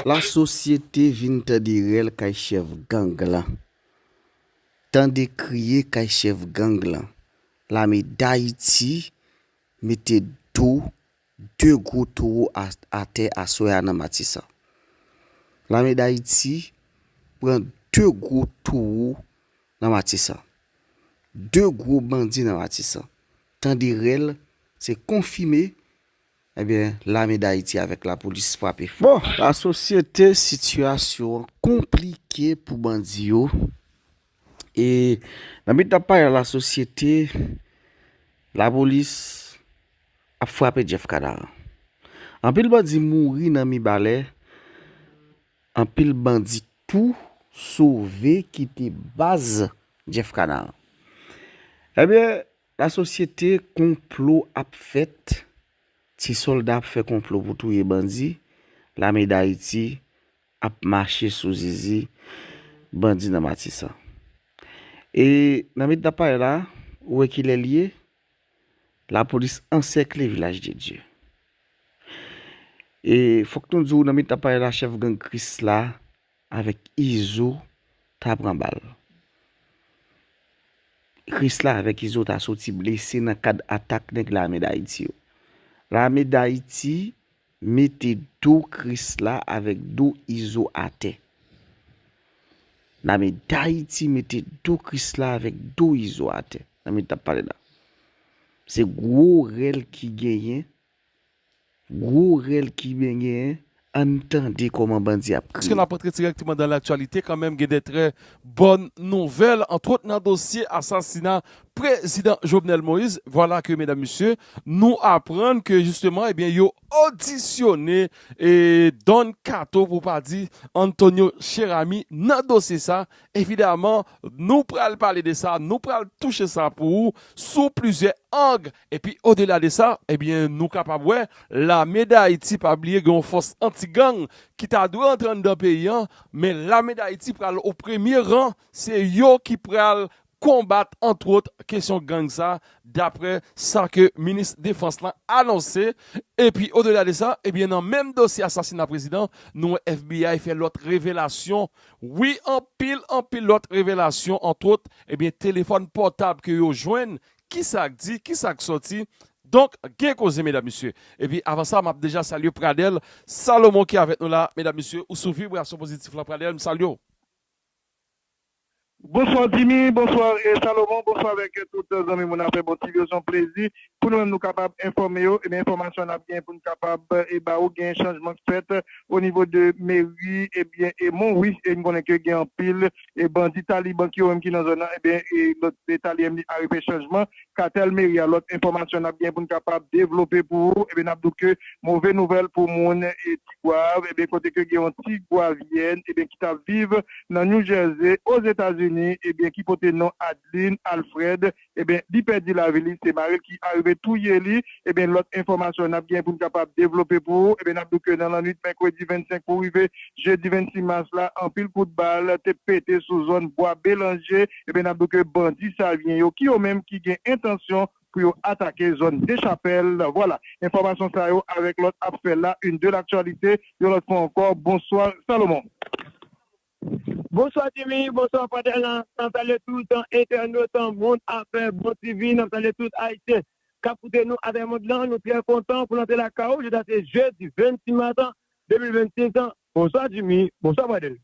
La sosyete vin tande rèl kay chèf gang lan. Tande kriye kay chèf gang lan. Lame Dayiti mete do 2 gwo towo atè aswè a nan Matisan. Lame Dayiti pran 2 gwo towo nan Matisan. 2 gwo bandi nan Matisan. Tande rèl se konfime Ebyen lame dayiti avek la polis frape fò. La sosyete sitiyasyon an konplike pou bandi yo e nan mit nap pale la sosyete la polis ap frape Jeff kadaran anpil bandi mouri nan mibalè anpil bandi tou sove kite baz Jeff kadaran ebyen La sosyete konplo ap fèt ti solda ap fè konplo pou touye bandi lame dayiti ap mache sou zizi bandi nan matisan e nan medna pale la ou wè kilè liye la polis ansèkle vilaj de dye e fòk nou diw nan medna pale la chèf gang krisla Avèk izo ta pran bal. Krisla avèk izo ta soti blese nan kad atak nèg lame dayiti yo. Lame dayiti mete do krisla avèk do izo atè. Lame dayiti mete do krisla avèk do izo atè. Nan mi tap pale la. Se gwo rèl ki genyen. Gwo rèl kiben genyen, ann tande kòman bandi ap Èske n kriye. ap antre dirèkteman dan laktyalite kanmenm gen de trè bòn nouvèl antwot nan dosye asasina prezidan Jovenel Moïse vwala ke medam mesye nou aprann ke jisteman ebyen yo odisyone Don Kato pou pa di Antonio Cheramy nan dosye sa evidaman nou pral pale de sa nou pral touche sa pou ou sou plizyè ang Epi odela de sa, ebyen nou kapab wè lame Dayiti pa bliye gen yon fòs anti gang ki ta dwe antre anndan peyi an, men lame Dayiti pral o premye ran, se yo ki pral konbat antwot kesyon gang sa daprè sa ke minis defans lan anonse. Epi odela de sa, ebyen nan menm dosye asasina prezidan, nou wè FBI fè lòt revelasyon, wi anpil anpil lòt revelasyon antwot ebyen telefòn pòtab ke yo jwenn Kisa k di, kisa k sòti? Donk gen koze medam mesye. Epi avan sa map deja salye Pradel Salomon ki avèk nou la medam mesye ou sou vibrasyon pozitif lan Pradel m salye w. Bonsoir Jimmy, bonsoir Salomon, bonsoir avèk tout zanmi moun afè bon TV yo son plezi pou nou menm nou kapab enfòme yo ebyen enfòmasyon nap gen poun kapab e ba ou gen chanjman k fèt onivo de meri ebyen e Monwi e m konnen ke gen anpil e bandi taliban ki yo menm ki nan zòn nan ebyen e lòt e talyem li arete chanjman katèl meri a lòt enfòmasyon nap gen poun kapab devlope pou ou ebyen nap di w ke move nouvèl pou moun e tigwav ebyen kote ke gen yon tigwavyèn ebyen ki tap viv nan New Jersey ozetazini ebyen ki pote non Adeline Alfred ebyen li pèdi lavi li se maril ki arive touye li ebyen lòt enfòmasyon nap gen poun kapab devlope pou ou ebyen nap di w ke nan lannwit mèkredi 25 pou rive jedi 26 mas la anpil kout bal te pete sou zòn bwa belanje ebyen nap di w ke bandi savyen yo ki yo menm ki gen entansyon pou yo atake zòn dechapèl vwala enfòmasyon sa yo avèk lòt ap fè la une de l'actualité yon lòt fwa ankò bonsoir Salomon. Bonswa Jimmy, bonswa Fadel nan salye tout entènot mond afè bon TV nan salye tout ayisyen kap koute nou atravè mond lan nou trè kontan pou n antre lakay ou jodi a se jedi 26 mas 2026 bonswa Jimmy bonswa Fadel.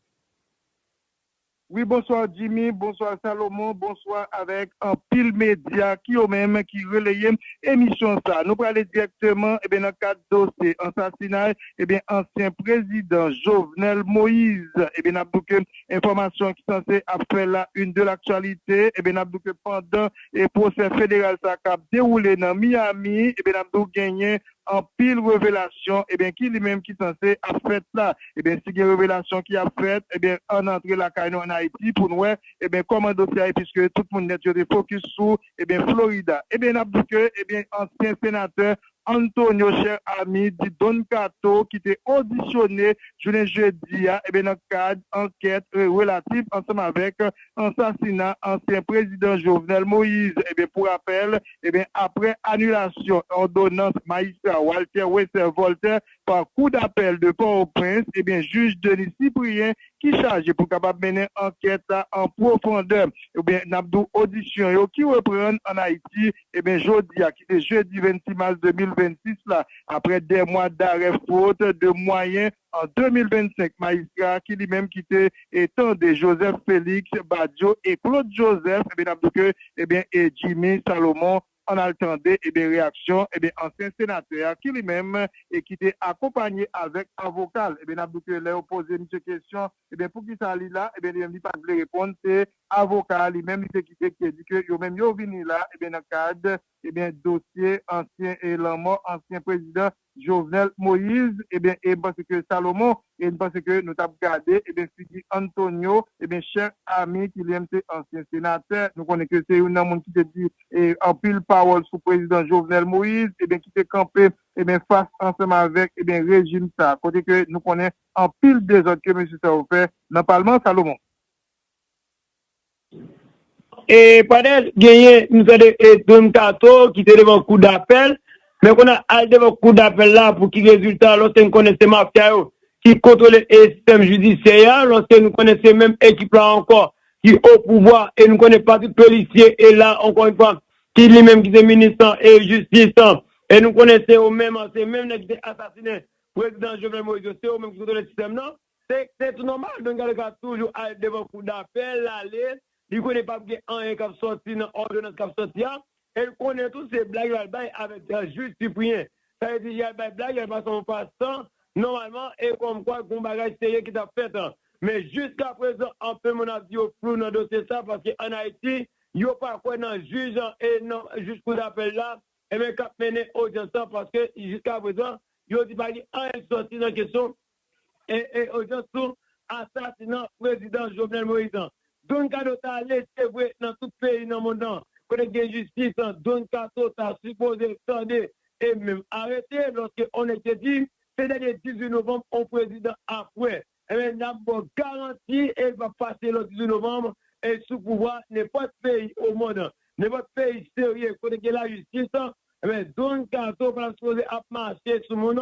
Wi bonswa Jimmy, bonswa Salomon, bonswa avèk anpil medya ki yo menm ki releye emisyon sa nou prale dirèkteman nan kad dosye ansasinay ebyen ansyen prezidan Jovenel Moise ebyen nap di w ke enfòmasyon ki sanse ap fè la une de l'actualité ebyen nap di w ke pandan e pwosè federal sa kap dewoule nan Miami ebyen nap di w genyen anpil revelasyon ebyen ki li menm ki sanse ap fèt la ebyen si gen revelasyon ki ap fèt ebyen ann antre lakay nou ann Ayiti pou n wè ebyen kòman dosye a ye piske tout moun nèt yo te fokis sou ebyen Florida ebyen nap di w ke ebyen ansyen senatè Antonio Cher Ami di Don Kato ki te odisyone jounen jedi a nan kad ankèt relatif ansanm avèk ansasina ansyen prezidan Jovenel Moïse. Pou rapèl, aprè anilasyon òdonans majistra Walter Wester Volter pa kou dapèl de Pòtoprens, jij Denis Cyprien ki chaje pou kapab mennen ankèt la an pwofondè, n ap di w odisyon yo ki reprann ann Ayiti Eben jodi a ki se jedi 26 mas 2026 la, aprè 2 mwa darè fot de mwayen an 2025, majistra a ki li menm ki te tande Joseph Felix Badio e Claude Joseph, eben n ap di ke eben e Jimmy Salomon, ann al tande eben reyaksyon eben ansyen senatè a ki li menm e ki te akonpanye avèk avoka l. Eben n ap di ke lè yo poze misye kesyon eben poukisa li la, eben li menm li pa t vle reponn, se Avoka a li menm li te kite ki te di ke yo menm yo vini la ebyen nan kad ebyen dosye ansyen e lanmò ansyen prezidan Jovenel Moise ebyen e m panse ke Salomon e m panse ke nou t ap gade ebyen figi Antonio ebyen chè ami ki li menm se ansyen senatè nou konnen ke se youn nan moun ki te di e anpil pawòl sou prezidan Jovenel Moise ebyen ki te kanpe ebyen fas ansanm avèk ebyen rejim sa kote ke nou konnen anpil dezòd ke mesye sa yo fè nan palman Salomon. E pandan genyen nou tande e Don Kato ki te devan kou dapèl, men kounye a al devan kou dapèl la pou ki rezilta alòske n konnen se mafya yo ki kontwole e sistèm jidisyè a, alòske nou konnen se menm ekip la ankò ki o pouvwa e nou konnen pa tout polisye e la ankò yon fwa ki li menm ki se minis lan e jistis lan e nou konnen se yo menm se menm nèg ki te asasinen prezidan Jovenel Moïse yo se yo menm ki kontwole sistèm lan. Se se tou nòmal Don Carlos ka toujou al devan kou dapè lale li konnen pap gen anyen kap sòti nan òdonans kap sòti a el konnen tou se blag yal bay avèk Jude Cyprien sa vle di yal bay blag yal pase yon pastan nòmalman e kòmkwa gon bagay serye ki tap fèt men jiska prezan anpil moun ap di yo flou nan dosye sa paske an Ayiti yo pa kwè nan jij an e nan jij kou dapèl la eben kap mennen odyans lan paske jiska prezan yo di pa gen anyen ki sòti nan kesyon Ee ojans sou asasina prezidan Jovenel Moïse an. Don Kato ta ale se vre nan tout peyi nan mond lan kote k gen jistis lan Don Kato ta sipoze tande e menm arete lòske on nèg te di se dènye 18 novanm on prezidan ap wè enben n ap ba w garanti e li p ap pase lòt 18 novanm e sou pouvwa nenpòt peyi o mond nenpòt peyi serye kote k gen lajistis enben Don Kato pa ta sipoze ap mache sou moun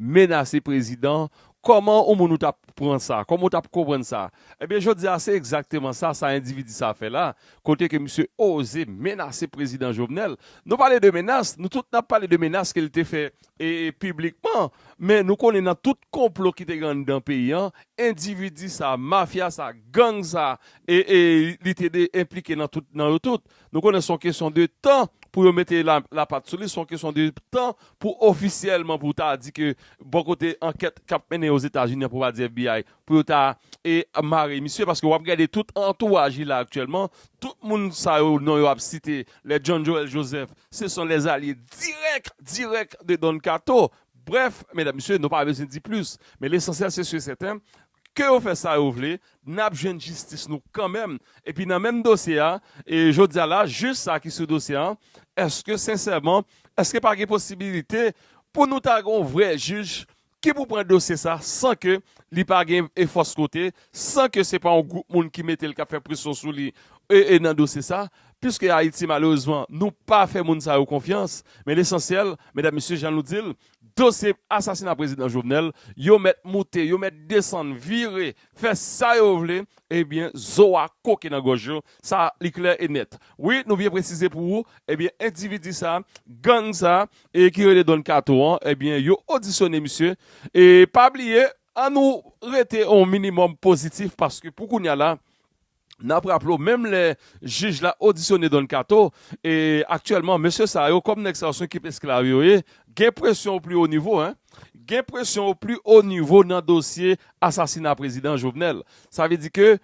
Menase prezidan, kòman ou moun ou tap pran sa, kòman ou tap konprann sa? Ebyen jodi a se egzakteman sa sa endividi sa fè la, kote ke misye oze menase prezidan Jovenel. Nou pale de menas, nou tout nap pale de menas ke li te fè e piblikman, men nou konnen nan tout konplo ki te gen anndan peyi an, endividi sa, mafya sa, gang sa e li te enplike nan yo tout. Nou konnen se yon kesyon de tan pou yo mete lapat sou li, se yon kesyon de tan pou ofisyèlman pou ta di ke bò kote ankèt kap mennen Ozetazini an pou pa di FBI pou yo ta mare misye paske wap gade tout antouraj li la aktyèlman tout moun sa yo non yo ap site lè John Joel Joseph se son lè zalye dirèk dirèk de Don Kato brèf medam mesye nou pa bezwen di plis men lesansyèl se si e sèten ke yo fè sa yo vle nap jwenn jistis nou kanmenm epi nan menm dosye a e jodia la jij sa ki sou dosye an eske sensèman eske pa gen posibilite pou nou ta gen yon vrè jij ki pou pran dosye sa san ke li pa gen e fòs kote san ke se pa yon gwoup moun ki mete l kap fè presyon sou li e e nan dosye sa piske ayiti malerezman nou pa fè moun sa yo konfyans men lesansyèl medam mesye jan nou di l Dosye asasina prezidan Jovenel yo mèt moute, yo mèt desann, vire, fè sa yo vle, ebyen zo a koke nan gòj yo, sa li klè e nèt. Wi, nou byen presize pou ou, ebyen endividi sa, gang sa e ki rele Don Kato an, ebyen yo odisyone misye e pa bliye, an nou rete yon minimòm pozitif paske pou kounya la, N ap raple w, menm lè jij la odisyone Don Kato, e aktyèlman mesye sa yo, kòm nèg sa yo se yon ekip esklav yo ye, gen presyon o pli o nivo, gen presyon o pli o nivo nan dosye asasina prezidan Jovenel. Sa vle di ke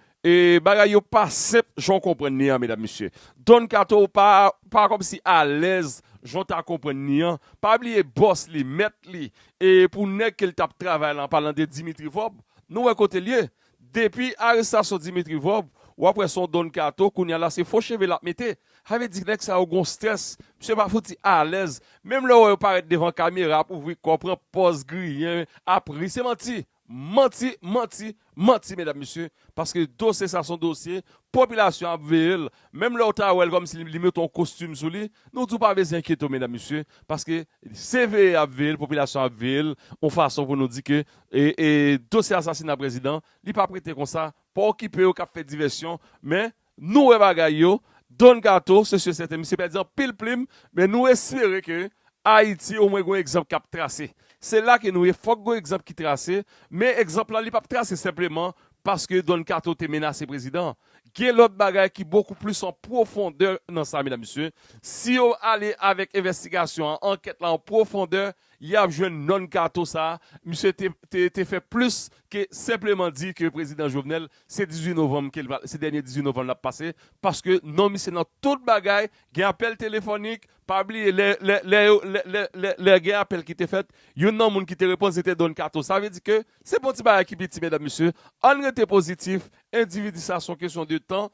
bagay yo pa senp jan w konprann li an medam mesye. Don Kato pa kòm si alèz jan w ta konprann li an. Pa bliye bòs li, mèt li, e pou nèg ke l t ap travay la, an palan de Dimitri Vorbe, nou wè kote l ye. Depi arestasyon Dimitri Vorb wap wè son Don Kato kounya la se fo cheve lap mete sa vle di nèg sa yo gon strès misye pa fouti alèz menm lè ou wè yo parèt devan kamera ap ouvri kò pran pòz griyen ap ri se manti manti manti manti medam mesye paske dosye sa son dosye popilasyon an ap veyel menm lè ou ta wèl kòm si li mete yon kostim sou li nou di ou pa bezyen enkyete w medam mesye paske se veye yap veyel popilasyon an ap veyel yon fason pou nou di ke E dosye asasina prezidan li pap rete konsa pa okipe yo kap fè divèsyon men nou wè bagay yo Don kato se si e sèten misye pèdi anpil plim men nou espere ke Ayiti omwen gon egzanp kap trase se la ke nou ye fòk gon egzanp ki trase men egzanp la li pap trase senpleman paske Don kato te menase prezidan gen lòt bagay ki bokou plis an pwofondè nan sa medam mesye si yo ale avèk envèstigasyon an ankèt la an pwofondè Yap jwenn nonn kato sa misye te fè plis ke senpleman di ke prezidan Jovenel se 18 novanm kel pral se dènye 18 novanm lap pase paske non misye nan tout bagay gen apèl telefonik pa bliye lè lè yo lè gen apèl ki te fèt youn nan moun ki te reponn se te don kato sa vle di ke se pon ti bagay ki piti medam mesye ann rete pozitif endividi sa son kesyon de tan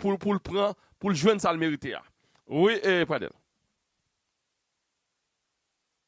poul poul pran poul jwenn sal merite a wi pradel.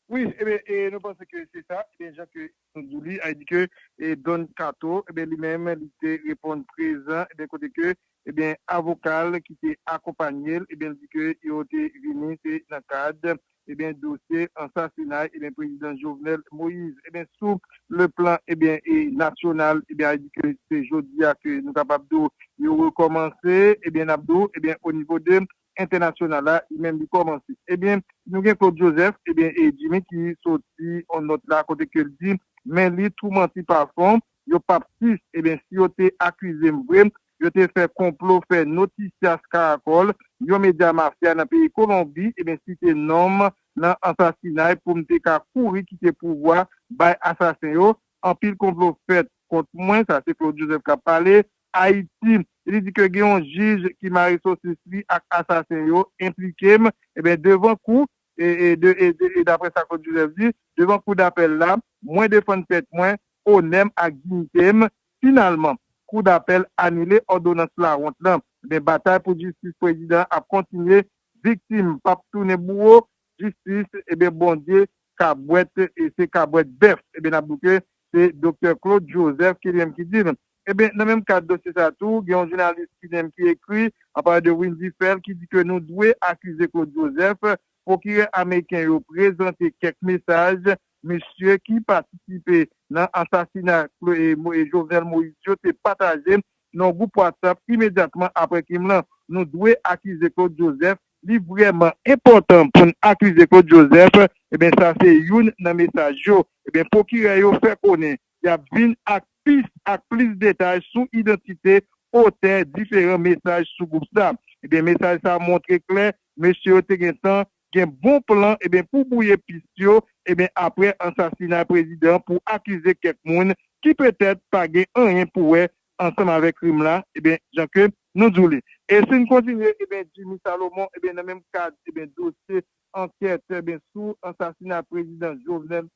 Wi ebyen e nou panse ke se sa ebyen jan ke nou di li a di ke e Don Kato ebyen li menm li te reponn prezan ebyen kote ke ebyen avokal ki te akonpanyel ebyen li di ke yo te vini se nan kad ebyen dosye ansasinay ebyen prezidan Jovenel Moïse ebyen sou le plan ebyen e nasyonal ebyen a di ke se jodia ke nou kapab di w yo rekòmanse ebyen nap di w ebyen o nivo de entènasyonal la li menm li kòmanse ebyen nou gen Claude Joseph ebyen e Jimmy ki soti on nòt la kote ke l di men li tou manti pa fon yo pap sis ebyen si yo te akize m vre yo te fè konplo fè Noticias Caracol yon medya mafya nan peyi Kolonbi ebyen site non m nan ansasinay pou m te ka kouri kite pouvwa bay asasen yo anpil konplo fèt kont mwen sa se Claude Joseph k ap pale Ayiti, li di ke gen yon jij ki mare sosis li ak asasen yo, enplike m, eben devan kou, e daprè sa Claude Joseph di, devan kou dapèl la, mwen defann tèt mwen, onè m ak diyite m, finalman, kou dapèl anile òdonans lawont lan, eben batay pou jistis prezidan an ap kontinye, viktim pap tounen bouwo, Jistis eben bondye kabwèt e se kabwèt bèf eben nap di ke se doktè Claude Joseph ki li menm ki dil eben nan menm kad dosye sa tou gen yon jounalis ki li menm ki ekri an palan de Windy Phèl ki di ke nou dwe akize Claude Joseph pwokirè ameriken yo prezante kèk mesaj misye ki patisipe nan asasina Jovenel Moïse yo te pataje nan yon gwoup WhatsApp imedyatman aprè krim lan nou dwe akize Claude Joseph. Li vrèman enpòtan pou n akize Claude Joseph, ebyen sa se youn nan mesaj yo, ebyen pwokirè yo fè konnen y ap vin ak pis ak plis detay sou idantite otè diferan mesaj sou gwoup sa, ebyen mesaj sa montre klè mesye yo te gentan gen bon plan ebyen pou bwouye pis yo ebyen aprè ansasinay prezidan pou akize kèk moun ki petèt pa gen anyen pou wè ansanm avèk rim la ebyen jan ke nou di w li. E si n kontinye ebyen Jimmy Salomon ebyen nan menm kad ebyen dosye ankèt ebyen sou ansasina prezidan Jovenel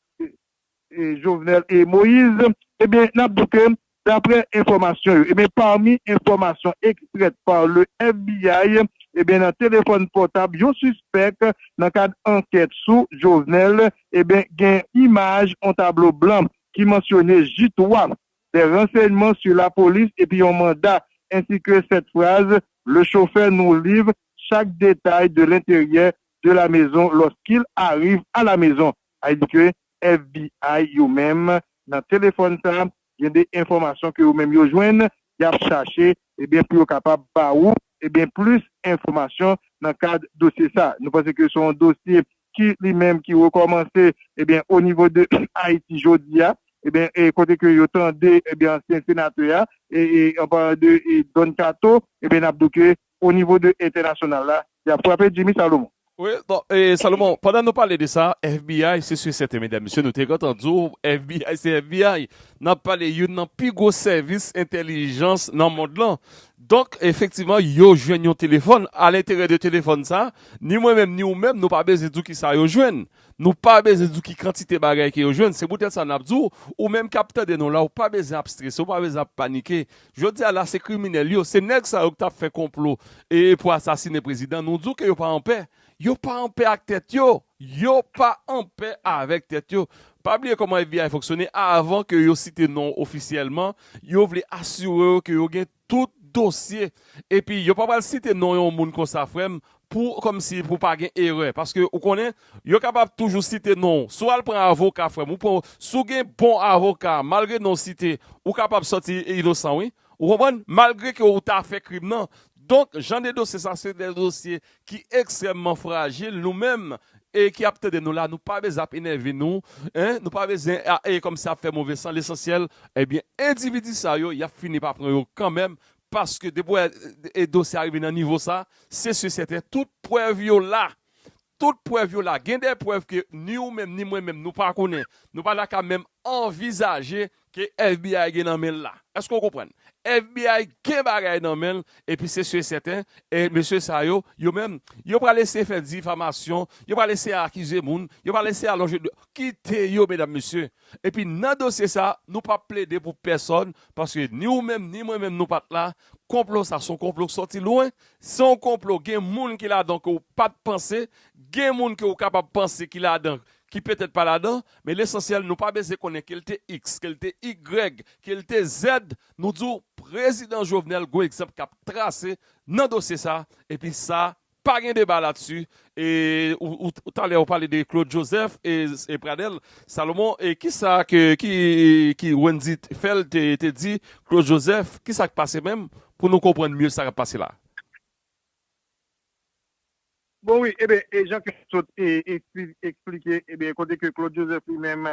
Jovenel Moise ebyen n ap di w ke daprè enfòmasyon yo ebyen pami enfòmasyon extraite par le FBI ebyen nan telefòn pòtab yon sispèk nan kad ankèt sou Jovenel ebyen gen imaj yon tablo blan ki mansyone J-3 des renseignements sur la police epi yon manda ainsi que cette phrase, Le chauffeur nous livre chaque détail de l'intérieur de la maison lorsqu'il arrive à la maison. Sa vle di ke FBI yo menm nan telefòn sa gen de enfòmasyon ke yo menm yo jwenn yap chache ebyen pou yo kapab ba ou ebyen plis enfòmasyon nan kad dosye sa. Nou panse ke se yon dosye ki li menm ki rekòmanse ebyen o nivo de Ayiti jodi a ebyen e kote ke yo tande ebyen ansyen senatè a e e an palan de e Don Kato ebyen n ap di w ke o nivo de entènasyonal la y ap frape Jimmy Salomon. Wi bon e Salomon pandan nou pale de sa FBI se si e sèten medam mesye nou te gentan di w FBI se FBI n ap pale youn nan pi gwo sèvis entèlijans nan mond lan Donk, efektivman, yo jwenn yon telefòn. Alenteryè de telefòn sa a, ni mwen menm ni ou menm nou pa bezwen di w ki sa yo jwenn. Nou pa bezwen di w ki kantite bagay ke yo jwenn. Se poutèt sa n ap di w, ou menm k ap tande nou la, ou pa bezwen ap strese, ou pa bezwen ap panike. Jodi a la, se kriminèl yo, se nèg sa yo ki t ap fè konplo e pou asasine prezidan, nou di w ke yo pa anpè. Yo pa anpè ak tèt yo. Yo pa anpè avèk tèt yo. Pa bliye kòman FBI fonksyone, avan ke yo site non w ofisyèlman, yo vle asire yo ke yo gen tout dosye. Epi yo pa pral site non yon moun konsa frè m, pou kòmsi pou pa gen erè. Paske ou konnen, yo kapab toujou site non w. Si w al pran avoka frè m, si w gen bon avoka, malgre non w site, ou kapab sòti inosan wi. Ou konprann? Malgre ke ou ta fè krim nan. Donk, jan de dosye sa se de dosye ki ekstrèmman frajil. Nou menm e ki ap tande nou la, nou pa bezwen ap enève nou. Hein? Nou pa bezwen a e kòmsi ap fè move san. Lesansyèl, ebyen, endividi sa yo, y ap fini pa pran yo kanmenm. Paske depi w wè e dosye a rive nan nivo sa, se si e sèten tout prèv yo la. Tout prèv yo la. Gen de prèv ke ni ou menm ni mwen menm nou pa konnen. Nou pa ta ka menm anvizaje ke FBI gen nan men'l la. Èske ou konprann? FBI gen bagay nan men'l epi se su e sèten e mesye sa yo, yo menm, yo pral eseye fè difamasyon, yo pral eseye akize moun, yo pral eseye alonje do. Kite yo medam mesye. Epi nan dosye sa, nou pap plede pou pèsòn paske ni ou menm ni mwen menm nou pat la. Konplo sa son konplo k sòti lwen Se yon konplo gen moun ki ladan ke w pa t panse, gen moun ke w kapab panse ki ladan ki petèt pa ladan, men lesansyèl nou pa bezwen konnen ke l te iks, ke l te igrèg, ke l te zèd, nou di w Prezidan Jovenel gon egzanp k ap trase nan dosye sa epi sa pa gen deba latsi E ou talè ou pale de Claude Joseph e Pradel Salomon e kisa ke Wendy Phel te di Claude Joseph kisa k pase menm pou nou konprann mye sa k ap pase la. Bon wi eben e jan ke nou sot eksplike eben kote ke Claude Joseph li menm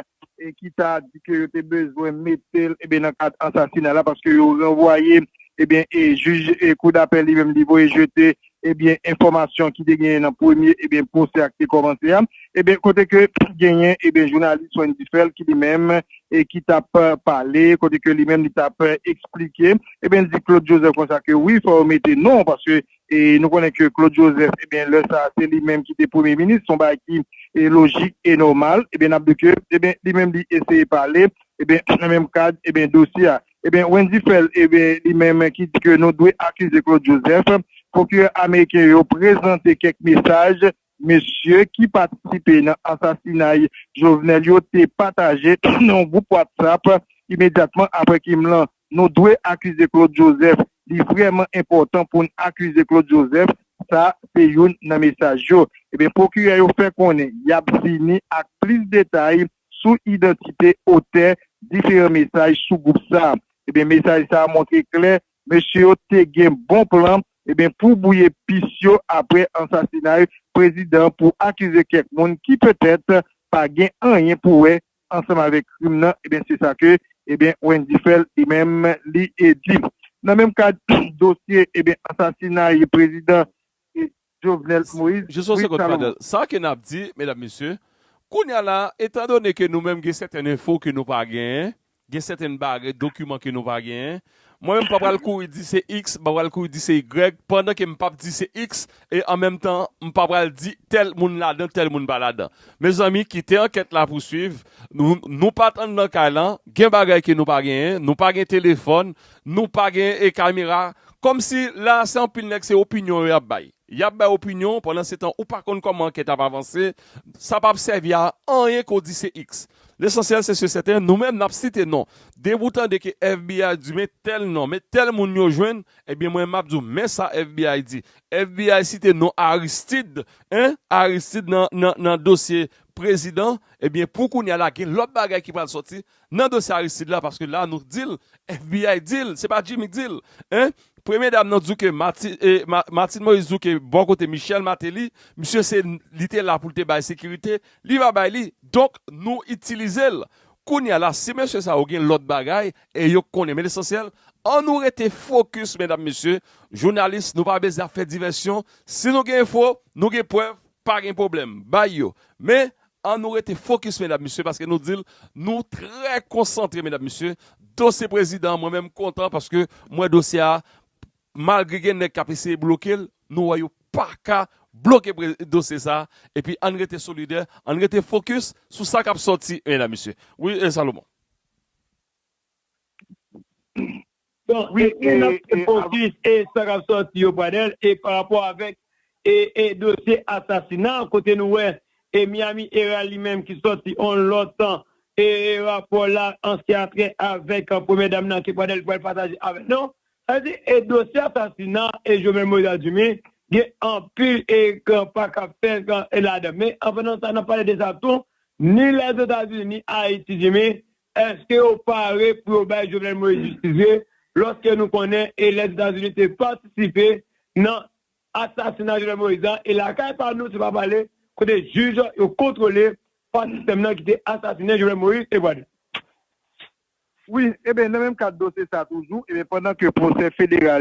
ki ta di ke yo te bezwen mete l eben nan kad ansasina la paske yo ranvwaye eben e jij kou dapèl li menm li voye jete ebyen enfòmasyon ki te genyen nan premye ebyen pwosè a ki te kòmanse a ebyen kote ke genyen ebyen jounalis Wendy Phel ki li menm e ki tap pale kote ke li menm li tap esplike ebyen li di Claude Joseph konsa ke wi fò yo mete non paske e nou konnen ke Claude Joseph ebyen lè sa se li menm ki te premye minis son bagay ki e lojik e nòmal ebyen nap di ke ebyen li menm li eseye pale ebyen nan menm kad ebyen dosye a. Ebyen Wendy Phel ebyen li menm ki di ke nou dwe akize Claude Joseph, pwokirè ameriken yo prezante kèk mesaj mesye ki patisipe nan asasinay Jovenel yo te pataje nan yon gwoup WhatsApp imedyatman aprè krim lan, nou dwe akize Claude Joseph, li vrèman enpòtan pou n akize Claude Joseph, sa se youn nan mesaj yo. Ebyen pwokirè yo fè konnen yap vini ak plis detay sou idantite otè diferan mesaj sou gwoup sa. Ebyen mesaj sa montre klè mesye yo te gen bon plan ebyen pou bwouye pis yo aprè ansasinay prezidan pou akize kèk moun ki petèt pa gen anyen pou wè ansanm avèk krim nan ebyen se sa ke ebyen Wendy Phel li menm li di. Nan menm kad dosye ebyen ansasinay prezidan. Jovenel Moïse Jis yon Louis segond Salomon. Fadel, sa ke nap di, medam mesye, kounya la a, etan done ke nou menm gen sèten enfo ke nou pa genyen, gen sèten bagay, dokiman ke nou pa genyen, mwen menm pa pral kouri di se iks, m pa pral kouri di se igrèg, pandan ke m pap di se iks, e an menm tan, m pa pral di tèl moun ladan, tèl moun pa ladan. Mezanmi, kite ankèt la pouswiv, nou, nou pat anndan kay lan, gen bagay ke nou pa genyen, nou pa gen telefòn, nou pa gen e kamera, Kòmsi la se anpil nèg se opinyon yo yap bay. Yap bay opinyon pandan se tan ou pa konn kòman ankèt ap avanse, sa pap sèvi a anyen ke w di se iks. Lesansyèl se se sèten nou menm nap site non. Depi w tande ke FBI di men tèl non, men tèl moun yo jwenn, ebyen mwen map di w men sa FBI di. FBI site non Aristid, hein, Aristid nan nan nan dosye prezidan, ebyen pou kounya la gen lòt bagay ki pral sòti Nan dosye Aristide la paske la nou dil FBI dil se pa Jimmy k dil hein premye dam nan duke Martine Moïse duke bò kote Michel Martelly misye se li te la poul te bay sekirite li pa bay li donk nou itilizel kounya la si mesye sa yo gen lòt bagay e yo k konnen men lesansyèl an nou rete fokis medam mesye jounalis nou pa bezyen ap fè divèsyon si nou gen enfo nou gen prèv pa gen pwoblèm bay yo men An nou rete fokis medam mesye paske nou dil nou trè konsantre medam mesye dosye prezidan mwen menm kontan paske mwen dosye a malgre gen nèg kap eseye blokel nou wè yo paka bloke dosye sa epi ann rete solidè ann rete fokis sou sa kap sòti medam mesye wi Salomon. Bon e nou nan ki fokis e sa kap sòti yo Pradel e pa rapò avèk e dosye asasina kote nou wè e Miami Herald li menm ki sòti on lòt e rapò la an se atrè avèk premyè dam nan ke Pradel pral pataje avè nou sa vle di e dosye asasina e Jovenel Moïse a Dumy gen anpil e pa kap fèt e ladan men an pandan sa nap pale de sa tou ni Lèzetazini ni Ayiti Dumy Eske yo pare pou yo bay Jovenel Moïse jistis vre loske nou konnen e Lèzetazini te patisipe nan asasina Jovenel Moïse la e lakay pa nou se pa pale kote jij yo kontwole pa sistèm nan ki te asasinen Jovenel Moïse e Pwade. Wi, eben nan menm kad dosye sa toujou, eben pandan ke pwosè federal.